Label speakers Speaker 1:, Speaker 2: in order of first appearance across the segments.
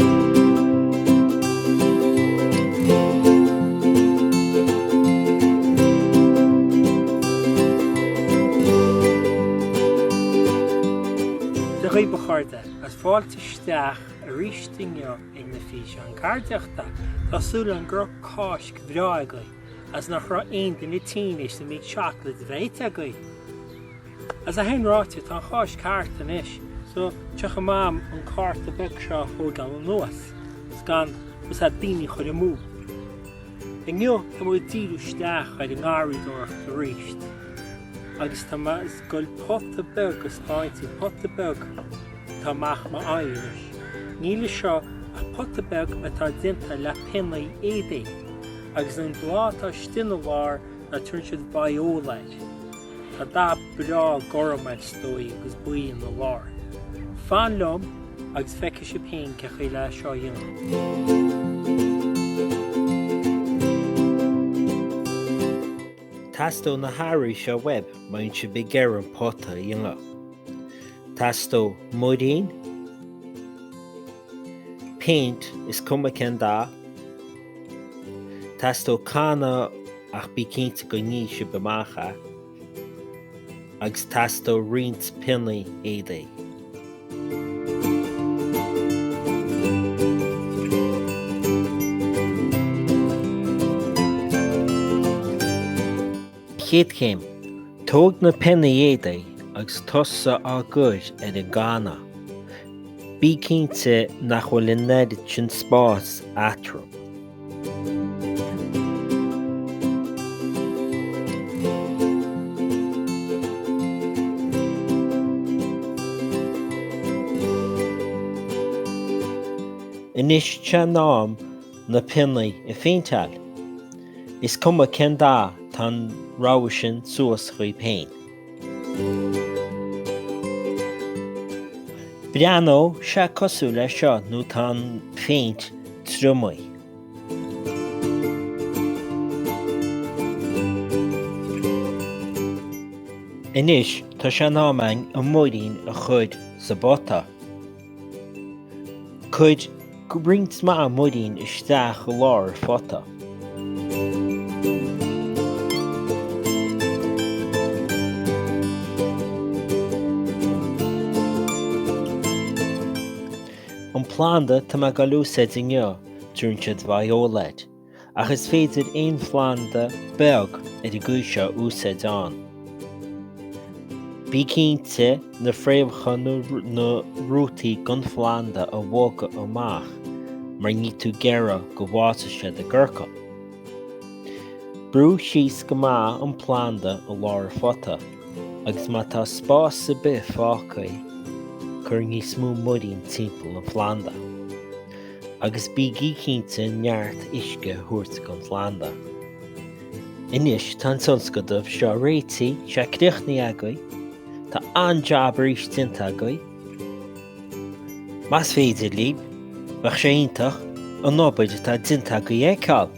Speaker 1: Bail ó Dhia oraibh a chairde, is fáilte isteach aríst inniu ag na físeáin ceardaíochta. Tá súil agam go raibh Cáisc bhreá agaibh, agus nach raibh aon duine tinn théis an méid seacláide a bheith ite agaibh! Is é sin ráite, tá an Cháisc thart anois so tá sé in am an cárta beag seo a thóigeáil anuas is ceann úrnua a dhaoine a chuir amú. Inniu tá muid ag díriú isteach ar an ngarraíodóireacht aríst agus tá mise ag goil pota beag a 'speáint díbh, pota beag atá amach mo aghaidh anois. Níl ann seo ach pota beag atá déanta le pionnaí éadaigh agus an bláth atá istigh ina lár tugann siad Viola air. Tá dath breá gorm air is dóigh agus buí ina lár. Fan liom agus feicfidh sibh féin cé chaoi le seo a dhéanamh.
Speaker 2: Teastóidh na hearraí seo uaibh má bhíonn sibh ag iarraidh an pota a dhéanamh. Teastóidh muirín. péint, is cuma cén dath. Teastóidh canna ach bí cinnte go nífidh sibh amach é. Agus teastóidh roinnt pionnaí éadaigh. Chéad chéim, Tóg na pionnaí éadaigh agus tosaigh á gcur ar an gcanna. Bí cinnte nach bhfuil an oiread sin spáis eatarthu. Anois is é an am na pionnaí a phéinteáil. Is cuma cén dath tá an rogha sin suas dhaoibh féin. Breathnóidh sé cosúil leis seo nuair atá an phéint triomaithe. Anois tá sé in am againn an muirín a chur sa bpota. Cuir roinnt mhaith muirín isteach i lár an phota. An planda tá mé ag goil ag úsáid inniu, tugann siad Viola air. ach is féidir aon phlanda beag ar an gcaoi seo a úsáid ann. Bí cinnte na fréamhacha nó na rútaí den phlanda a bhogadh amach mar níl tú ag iarraidh go bhfásfaidh siad i gciorcal. Brú síos go maith an planda i lár an phota agus má tá spás ar bith fágtha, cuir níos mó muirín timpeall an phlanda. Agus bígí cinnte neart uisce a thabhairt don phlanda. Anois tá an tionscadal seo réitithe, tá sé críochnaithe agaibh, tá an-jab arís déanta agaibh. Más féidir libh, bheadh sé iontach an obair atá déanta agaibh a fheiceáil.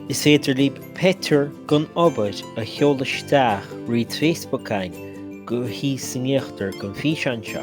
Speaker 2: Is féidir libh pictiúr den obair a sheoladh isteach tríd Facebook againn thíos in íochtar den físeán seo.